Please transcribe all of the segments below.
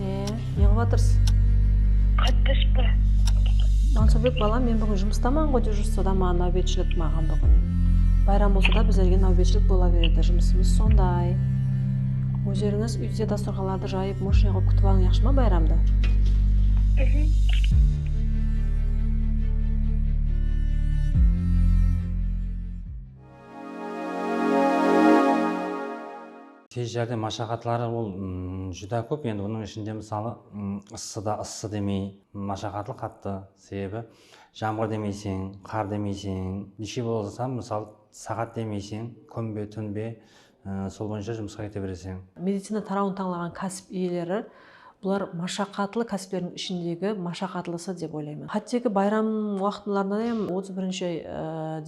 E, neǵıp atırsız? Qattish pa? Mansurbek balam men búgin jumıstaman ǵoy dejurstvo da ma náwbetshilik maǵan búgin bayram bolsa da bizlerge náwbetshilik bola beredi jumısımız sonday ózerińiz úyde dasturxanlardı jayıp moshniy qılıp kútip alıń yaqshı ma bayramdı Tez járdem mashaqatları ol júdá kóp endi bunıń ishinde mısalı ıssıda ıssı demey mashaqatlı qattı sebebi jamǵır demeyseń qar demeyseń neshe bolsam mısalı saǵat demeyseń kún be tún be sol boyınsha jumısqa kete bereseń. Medicina tarawın tańlaǵan kásip iyeleri Bular mashaqatlı kásiplerdin ishindegi mashaqatlısı dep oylayman. Hátteki bayram waqtınlarında hem otız birinshi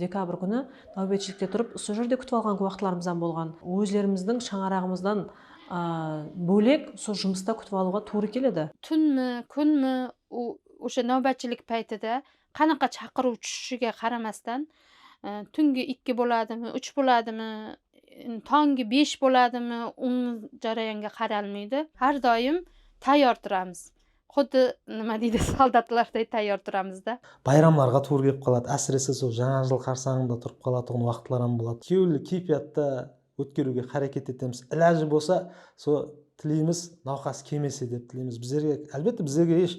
dekabr kúni náwbetshilikte turıp usı jerde kútip alǵan waqıtlarımızdan bolǵan. Ózlerimizdiń shańaraǵımızdan bólek usı jumısta kútip alıwǵa tuwrı keledi. Túnmi, kúnmi, ósha náwbetshilik páyti de Qanaqa shaqırıw túshishige qaramastan, túngi ikki boladımı, úsh boladımı, tongi besh boladımı, uń jarayanga qaralmaydı. Hár doyım tayyor turamız. Xuddi nima deydi, soldatlarday tayyor turamız da. Bayramlarǵa tuwrı kelip qaladı, ásirese sol Jańa jıl qarsańında turıp qalatuǵın waqıtlar ham boladı. Kewilli keypiyatta Ótkeriwge xáreket etemiz. Ilajı bolsa so tileymiz nawqas kemese dep tileymiz. Bizlerge álbette bizlerge esh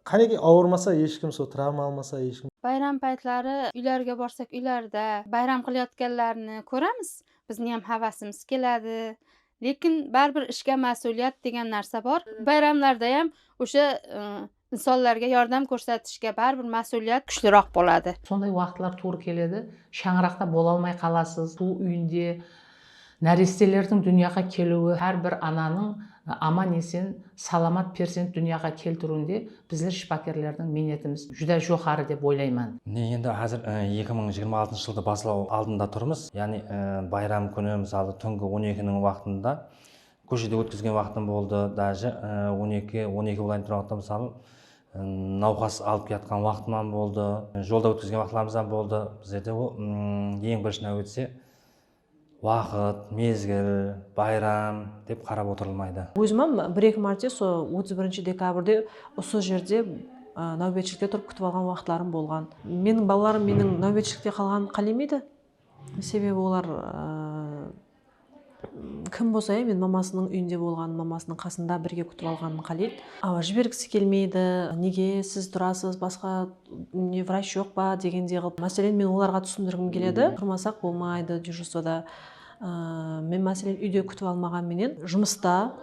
qánekey awırmasa eshkim so travma almasa eshkim. Bayram paytları úylerge barsak úylerde bayram qılayatkanlarını kóremiz. Bizniyam havasımız keledi. Lekin báribir ishke másuliyat degen nárse bar. Bayramlardayam ósha Insonlarga yordam kórsetishke báribir másuliyat kúshliroq boladı. Sonday waqıtlar tuwrı keledi, shańaraqta bolalmay qalasız. Bul úyinde nárestelerdiń dúnyaǵa keliwi, hár bir ananıń aman-esen, salamat perzent dúnyaǵa keltiriwinde bizler shıpakerlerdiń miynetimiz júdá joqarı dep oylayman. Mine endi házir eki mıń jigirma altıncı jıldı baslaw aldında turmız. Yaǵnıy bayram kúni, mısalı, túngi on ekiniń waqtında Kóshede ótkizgen waqtım boldı dáje on eki on eki bolayın turǵan waqtım mısalı nawqas alıp kiyatqan waqtımam boldı jolda ótkizgen waqtlarımızam boldı bizlerde ol eń birinshi náwbette waqıt mezgil bayram dep qarap otırılmaydı. Ózimam bir eki márte so otız birinshi dekabrde usı jerde náwbetshilikte turıp kútip alǵan waqıtlarım bolǵan. Meniń balalarım meniń náwbetshilikte qalǵanımdı qálemeydi. Sebebi olar kim bolsa ya men mamasınıń úyinde bolǵanın, mamasınıń qasında birge kútip alǵanın qáleydi. Awa, jibergisi kelmeydi, nege siz turasız, basqa ne vrach joq pa degendey qılıp, máselen, men olarǵa túsindirgim keledi, turmasaq bolmaydı dejurstvoda, men máselen úyde kútip almaǵan menen jumısta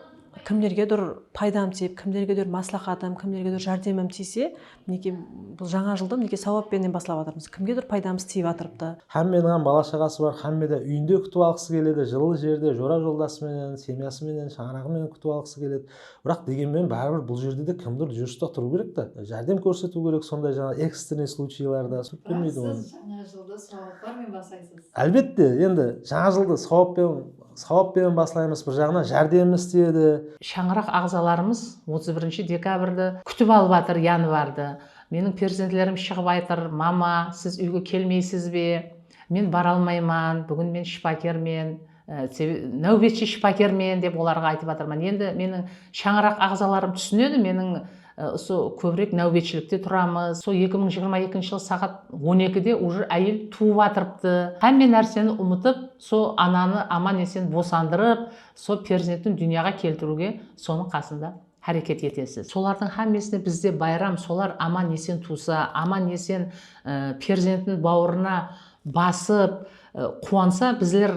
kimlergedur paydam tiyip, kimlergedur másláxatım, kimlergedur járdemim tiyse, Mineke bul jańa jıldı mineke sauap penen baslap atırmız kimgedur paydamız tiyip atırıptı. Hámmeniń hám bala shaǵası bar hámme de úyinde kútip alǵısı keledi jıllı jerde jora joldası menen semyası menen shańaraǵı menen kútip alǵısı keledi biraq degenmen báribir bul jerde de kimdur jurista turıu kerek ta járdem kórsetiw kerek sonday jańa ekstrennıy sluchiylarda turıp bermeydi onı biraq siz jańa jıldı sauaplar men baslaysız álbette endi jańa jıldı sauap penen Sawap penen baslaymız, bir jaǵınan járdemimiz isteyedi. Shańaraq aǵzalarımız otız birinshi dekabrdı kútip alıp atır, yanvardı. Meniń perzentlerim shıǵıp aytır, Mama, siz úyge kelmeysiz be? Men bara almayman, búgin men shıpakermen, náwbetshi shıpakermen, dep olarǵa aytıp atırman. Endi meniń shańaraq aǵzalarım túsinedi, meniń Usı kóbirek náwbetshilikte turamız. Sol eki mıń jigirma ekinshi jıl saǵat on ekide ujr áyel tuwıp atırıptı. Hámme nárseni umıtıp, sol ananı aman esen bosandırıp, sol perzentin dúnyaǵa keltiriwge sonıń qasında háreket etesiz. Solardıń hámmesine bizde bayram, solar aman esen tuwsa, aman esen perzentin bawırına Basıp, quwansa bizler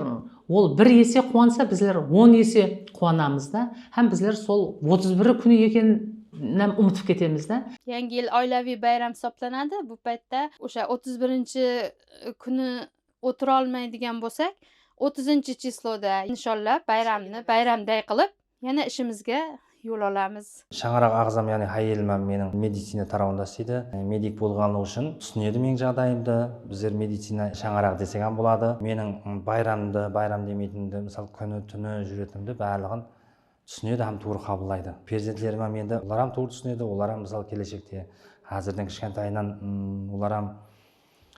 ol bir ese quwansa bizler on ese quwanamız da hám bizler sol otız biri kúni ekeninem umıtıp ketemiz da. Yangi yıl oilaviy bayram hisoplanadı. Bul paytta osha otız birinshi kúni otırolmaydigan bolsak, otızınshı chisloda insholla bayramnı bayramday qılıp, Yana ishimizge yol alamız. Shańaraq aǵzam yani hayelimam meniń medicina tarawında isteydi. Medik bolǵanlıǵı ushın túsinedi meniń jaǵdayımdı. Bizler medicina shańaraǵı desegam boladı. Meniń bayramdı, bayram demeytinimdi, mısal kúni, túni júretinimdi bárliǵin túsinedi hám tuwrı qabıllaydı. Perzentlerimam endi olaram tuwrı túsinedi, olaram mısal keleshekte, házirden kishkantayınan olaram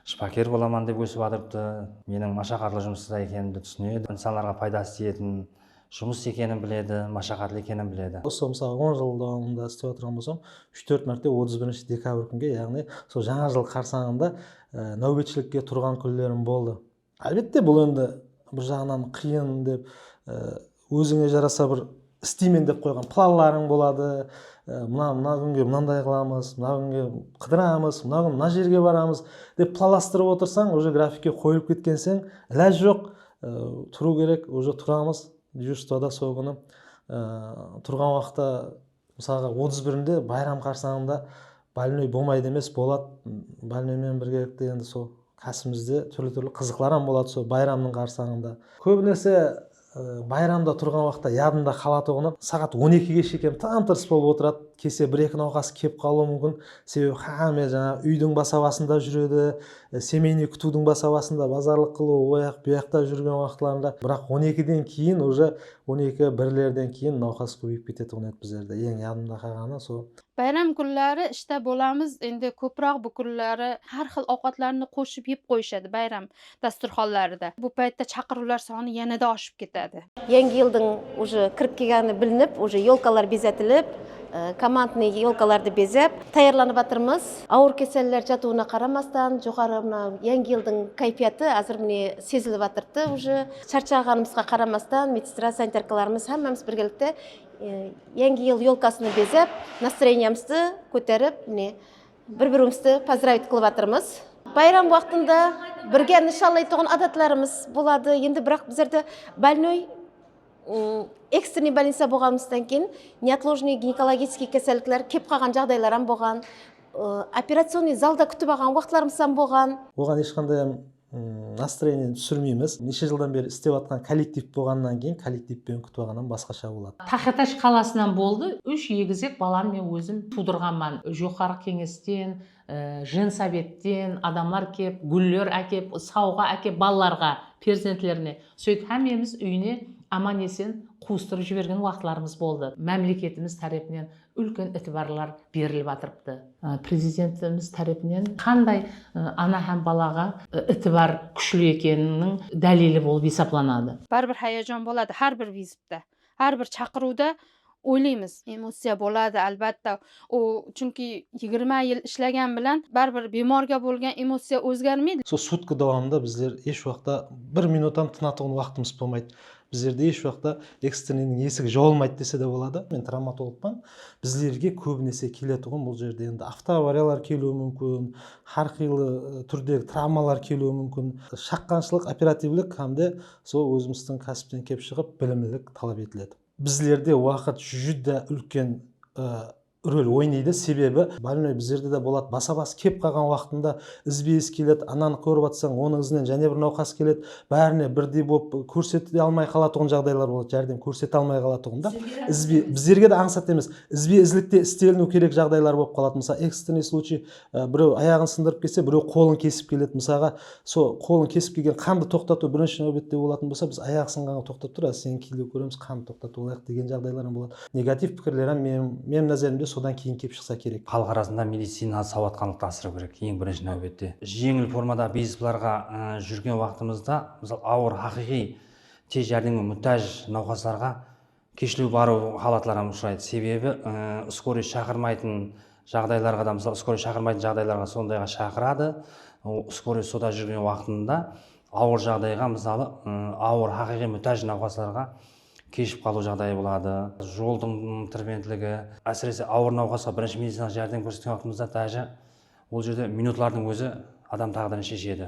Shıpaker bolaman dep ósip atırıptı. Meniń mashaqatlı jumısta ekenimdi túsinedi. Insanlarǵa paydası tiyetin jumıs ekenin biledi, mashaqatlı ekenin biledi. Usı mısalı on jıl dawamında istep atırǵan bolsam, úsh-tórt márte otız birinshi dekabr kúnge, yaǵnıy sol jańa jıl qarsańında náwbetshilikke turǵan kúnlerim boldı. Álbette bul endi bir jaǵınan qıyın dep ózińe jarasa bir isteymen dep qoyǵan planlarıń boladı, mına mına kúnge mınanday qılamız, mına kúnge qıdıramız, mına kún mına jerge baramız dep planlastırıp otırsań уже grafikke qoyılıp ketkenseń ilaj joq turıu kerek, уже turamız, dejurstvada sol kúni turǵan waqıtta Mısalǵa otız birinde bayram qarsańında bolnoy bomaydı emes boladı bolnoy menen birgelikte endi sol kásimizde turli turli qızıqlaram boladı sol bayramnıń qarsańında kóbinese bayramda turǵan waqıtta yadımda qalatuǵını saǵat on ekige shekem tam tırıs bolıp otıradı kese bir eki nawqas kelip qalıwı múmkin sebebi xáme jańaǵı úydiń basabasında júredi semeyniy kútiwdiń basabasında bazarlıq qılıw oyaq buyaqta júrgen waqıtlarında biraq on ekiden keyin uje On eki birlerden keyin nawqas kóbeyip ketetuǵın edi bizlerde eń yadımda qalǵanı so. Bayram kúnleri ishta bolamız endi kópiraq búkirleri hár xil awqatlardı qoshıp yep qoyıshadı bayram dasturxanlarıda bul payıtta shaqırıwlar sanı yanada ashıp ketedi. Yangi yıldıń uje kirip kelgeni bilinip uje yolkalar bezetilip komandnıy yolkalardı bezep tayarlanıp atırmız. Awır keseller jatıwına qaramastan joqarı mına yangi yıldıń kayfiyatı azır mine sezilip atırdı uje. Sharshagánimizge qaramastan medstrad sanitarkalarimiz hámmemiz birgelikte Yangi yıl yolkasını bezep, nastroyeniyamızdı kóterip, mine bir birimizdi pozdravit qılıp atırmız. Bayram waqtında birge nıshanlaytuǵın adatlarımız boladı. Endi biraq bizlerde bolnoy ekstrennıy bolnitsa bolǵanımızdan keyin neotlojenniy ginekologическiy kesellikler kelip qalǵan jaǵdaylar ham bolǵan, operacionnıy zalda kútip alǵan waqıtlarımız ham bolǵan. Oǵan esh qanday ham Nastroenieni túsirmeymiz. Neshe jıldan beri istep atqan kollektiv bolǵanınan keyin kollektivpen kútip alǵannan basqasha boladı. Taxetash qalasınan boldı, úsh egizek balamdı men ózim tuwdırǵanman. Joqarǵı keńesten, jensovetten adamlar kep, gúller ákep, sawǵa ákep balalarǵa, perzentlerine. Sóytip hámmemiz úyine aman-esen quwıstırıp jibergen waqıtlarımız boldı. Mámleketimiz tárepinen úlken itibarlar berilip atırıptı. Prezidentimiz tárepinen qanday ana hám balaǵa itibar kúshli ekeniniń dálili bolıp esaplanadı. Báribir hayajon boladı hár bir vizitda, hár bir shaqırıwda oylaymiz. Emotsiya boladı álbatta, ol chunki yigirma yıl ishlagan bilan báribir bemorga bolgan emotsiya ózgermeydi. Sol sutka dawamında bizler esh waqıtta bir minut ham tınatuǵın waqtımız bolmaydı. Bizlerde esh waqta ekstreniń esigi jawılmaydı dese de boladı. Men travmatologpan. Bizlerge kóbinese keletuǵın bul jerde endi avtoavariyalar keliwi múmkin, hár qıylı túrdegi travmalar keliwi múmkin. Shaqqanshılıq, operativlik hám de sol ózimizdiń kásipten kelip shıǵıp bilimlilik talap etiledi. Bizlerde waqıt júdá úlken Rol oynaydı sebebi bolnoy bizlerde de boladı basa bas kep qalǵan uaqıtında izbe iz keledi ananı kórip atsań onıń izinen jáne bir nauqas keledi bárine birdey bolıp kórsete de almay qalatuǵın jaǵdaylar boladı járdem kórsete almay qalatuǵın da bizlerge de ańsat emes izbe izlikte isteliniu kerek jaǵdaylar bolıp qaladı mısal ekstrennıy sluchiy Birew ayaǵın sındırıp kelse, birew qolın kesip keledi. Mısalǵa, so qolın kesip kelgen qandı toqtatıw birinshi náwbette bolatın bolsa, biz ayaq sınǵanǵa toqtap tur, azir seni kiyinlew kóremiz, qandı toqtatıp alayıq degen jaǵdaylar ham boladı. Negativ pikirler ham men, menim názerimde sodan keyin kelip shıqsa kerek. Xalıq arasında medicinalı sawatqanlıqtı asırıw kerek, eń birinshi náwbette. Jeńil formadaǵı bizneslarǵa júrgen waqtımızda, mısal, awır, haqıyqıy tez járdemge mútáj nawqaslarǵa Keshlew barıw halatları hám ushıraydı, sebebi skoriy shaqırmaytın jaǵdaylarǵa da, mısal, skoriy shaqırmaytın jaǵdaylarǵa sondayǵa shaqıradı, skoriy soda júrgen waqtında awır jaǵdayǵa, mısalı, awır haqıyqıy mútáj nawqaslarǵa keship qalıw jaǵdayı boladı. Joldıń trebentligi, ásirese, awır nawqasqa birinshi medicinalıq járdem kórsetken waqtımızda dájá ol jerde minutlardıń ózi adam táǵdirin sheshedi.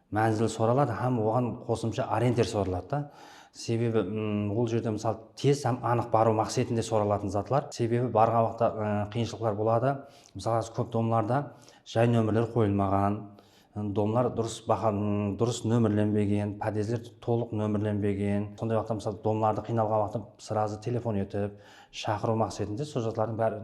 Mánzil soraladı hám oǵan qosımsha orienter soraladı da. Sebebi ol jerde mısal tez hám anıq barıw maqsetinde soralatın zatlar. Sebebi barǵan waqıtta qıyınshılıqlar boladı. Mısal házir kóp domlarda jay nómerler qoyılmaǵan, domlar durıs baha durıs nómerlenbegen, podezler tolıq nómerlenbegen. Sonday waqıtta mısal domlardı qıynalǵan waqıtta sırazı telefon etip shaqırıw maqsetinde sol zatlardıń bárin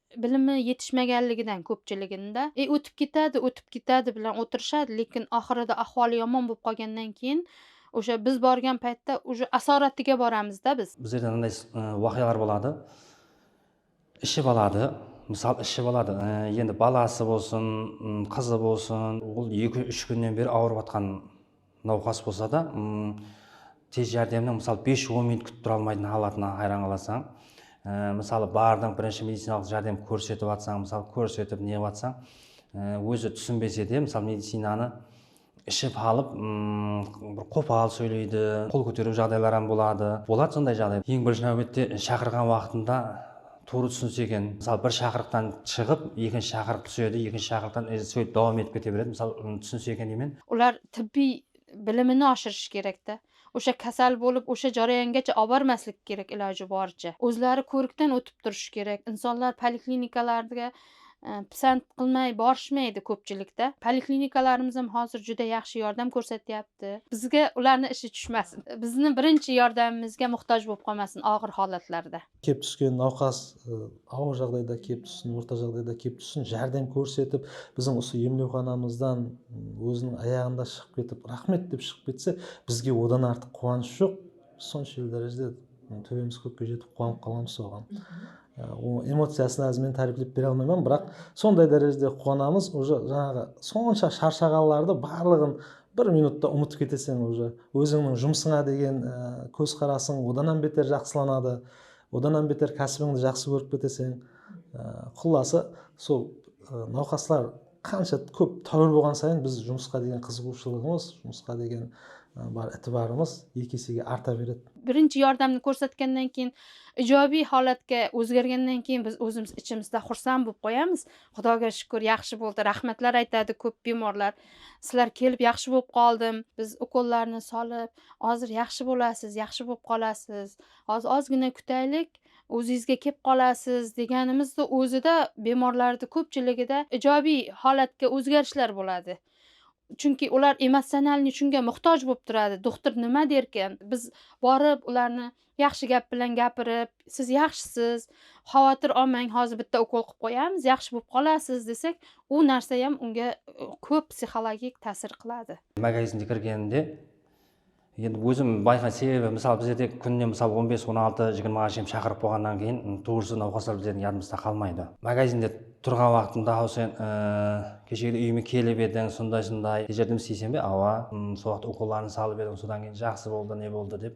Bilimi yetishmegenligidan kópchiliginde e ótip ketedi, ótip ketedi bilen otırishadı, lekin axırıda axualı yamon bolıp qalgannan keyin ósha biz bargan paytta uje asoratiga baramız da biz. Bizlerde mınday waqıyalar boladı, iship aladı, mısal iship aladı, endi balası bolsın, qızı bolsın, ol eki, úsh kúnnen beri awırıp atqan. Nawqas bolsa da tez járdemniń mısalı bes on minut kútip tura almaytın halatına hayran qalasań. Mısalı bardıń birinshi medicinalıq járdem kórsetip atsań mısalı kórsetip neǵip atsań ózi túsinbese de mısalı medicinanı iship alıp bir qopal sóyleydi qol kóteriw jaǵdaylar ham boladı boladı sonday jaǵday eń birinshi náwbette shaqırǵan waqtında Tuwrı túsinse eken. Mısalı bir shaqırıqtan shıǵıp ekinshi shaqırıq túsedi, ekinshi shaqırıqtan sóytip dawam etip kete beredi. Mısalı uǵın túsinse eken deymen. Ular tibbiy bilimini ashırısh kerek da. Osha kasal bolıp osha jarayangacha abarmaslik kerek ilajı barıtsha. Ózleri kórikten ótip turısh kerek. Insonlar poliklinikalarga pisant qılmay barıshmaydı kópchilik da. Poliklinikalarımızam házir júdá yaqshı yordam kórsetyapti. Bizge ularnı ishi túshmasin. Bizni birinshi yordamimizge muxtaj bolıp qalmasın aǵır halatlarda. Kep túsken nawqas awır jaǵdayda kep tússin, orta jaǵdayda kep tússin, járdem kórsetip, biziń usı emlewxanamızdan óziniń ayaǵında shıǵıp ketip, raxmet dep shıǵıp ketse, bizge odan artıq quwanısh joq. Biz sonshelli dárejede tóbemiz kókke jetip quwanıp qalǵanbız oǵan. Onıń emociyasın házir men táriyiplep bere almayman, biraq sonday dárejede quwanamız, uje jańaǵı sonsha sharshaǵanlardı barlıǵın Bir minutta umıtıp keteseń uja ózińniń jumısıńa degen kóz qarasıń odan hám beter jaqsılanadı odan hám beter kásibińdi jaqsı kórip keteseń qullası sol nawqaslar qansha kóp táwir bolǵan sayın biz jumısqa degen qızıǵıwshılıǵımız jumısqa degen bar itibarımız eki esege arta beredi birinshi yordamdı kórsetkennen keyin ijobiy holatke ózgergennen keyin biz ózimiz ichimizda xursand bolıp qoyamız xudoga shúkir yaqshı boldı raxmatlar aytadı kóp bemorlar Sizler kelip yaqshı bolıp qaldım biz ukollarını salıp azır yaqshı bolasız yaqshı bolıp qalasız az azgina kutaylik ozizge kep qalasız deganimizdi ozida bemorlardı kopchiligida ijobiy holatga ozgarishlar boladi chunki ular emocionalniy shunga muhtoj bolıp turadi doktor nima derkin biz borıp ularni Yaqshı gáp bilen gápirip, Siz yaqshısız, xawatır almań, házir bitta ukol qılıp qoyamız, yaqshı bolıp qalasız, desek, ul nárse hám unga kóp psixologik tásir qıladı. Magazinde kirgeninde, endi ózim bayqay, sebebi mısalı bizlerde kúnine mısalı on bes, on altı, jigirmaǵa shekem shaqırıp qoyǵannan keyin tuwrısı nawqaslar bizlerdiń yadımızda qalmaydı. Magazinde turǵan waqtımda haw sen keshegide úyime kelip ediń, sonday-sonday, kecirdim isteyseń be? Awa, sol waqıt ukolların salıp ediń, sodan keyin jaqsı boldı, ne boldı dep.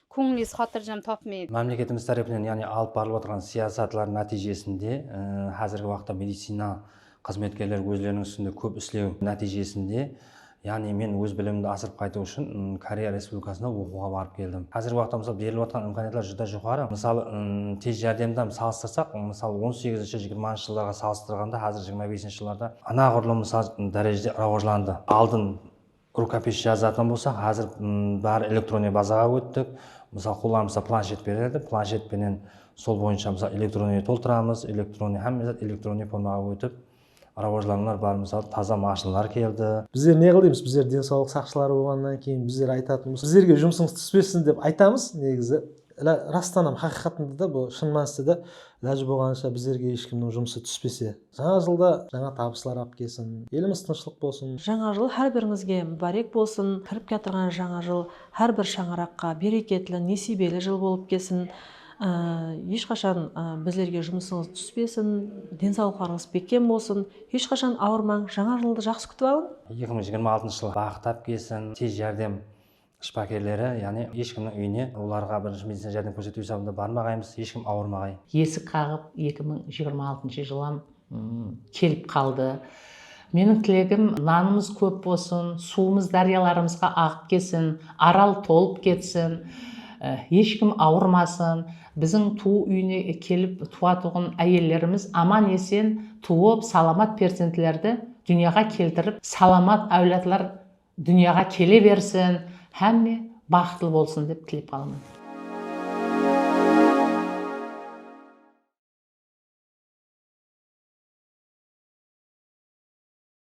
Kóńiliz xatırjam tapmay. Mámleketimiz tárepinen yaǵnıy alıp barılıp atırǵan siyasatlar nátiyjesinde házirgi waqıtta medicina xızmetkerleri ózleriniń ústinde kóp islew nátiyjesinde yaǵnıy men óz bilimimdi asırıp qaytıw ushın Koreya Respublikasına oqıwǵa barıp keldim. Házirgi waqıtta mısal berilip atırǵan imkaniyatlar júdá joqarı. Mısalı tez járdemdam salıstırsak mısal on segizinshi jigirmanıncı jıllarǵa salıstırǵanda házir jigirma besinshi jıllarda anaǵurlım mısal dárejede rawajlandı. Aldın. Rukopis jazatuǵın bolsaq, házir bári elektronniy bazaǵa óttik. Mısal, qollanımızda planshet beredi, planshet penen sol boyınsha mısal elektronniy toltıramız, elektronniy hámme zat elektronniy formaǵa ótip, rawajlanıwlar bar, mısal, taza mashinlar keldi. Bizler ne qıldıyımız? Bizler densawlıq saqshıları bolǵannan keyin bizler aytatınımız, sizlerge jumısıńız túspesin dep aytamız negizı. Rastan ham, haqıyqatında da bul shın mániste de ilajı bolǵanınsha bizlerge eshkimniń jumısı túspese. Jańa jılda jańa tabıslar ap kesin, elimiz tınıshlıq bolsın. Jańa jıl hár birimizge múbárek bolsın, kirip kiyatırǵan jańa jıl hár bir shańaraqqa bereketli, nesiyibeli jıl bolıp kesin, hesh qashan bizlerge jumısıńız túspesin, densawlıqlarıńız bekkem bolsın, hesh qashan awırmań, jańa jıldı jaqsı kútip alıń. Eki mıń jigirma altıncı jıl baxıt ap kelsin, tez járdem Shıpakerleri, yaǵnıy esh kimniń úyine olarǵa birinshi medicina járdem kórsetiw esabında barmaǵaymız, esh kim awırmaǵay. Esik qaǵıp eki mıń jigirma altıńshı jılam kelip qaldı. Meniń tilegim nanımız kóp bolsın, suwımız dáryalarımızǵa aǵıp kelsin, Aral tolıp ketsin, esh kim awırmasın, biziń tuwı úyine kelip tuwatuǵın áyellerimiz aman esen tuwıp, salamat perzentlerdi dúnyaǵa keltirip, salamat áwladlar Dúnyaǵa kele bersin, hámme baxıtlı bolsın dep tilep qalaman.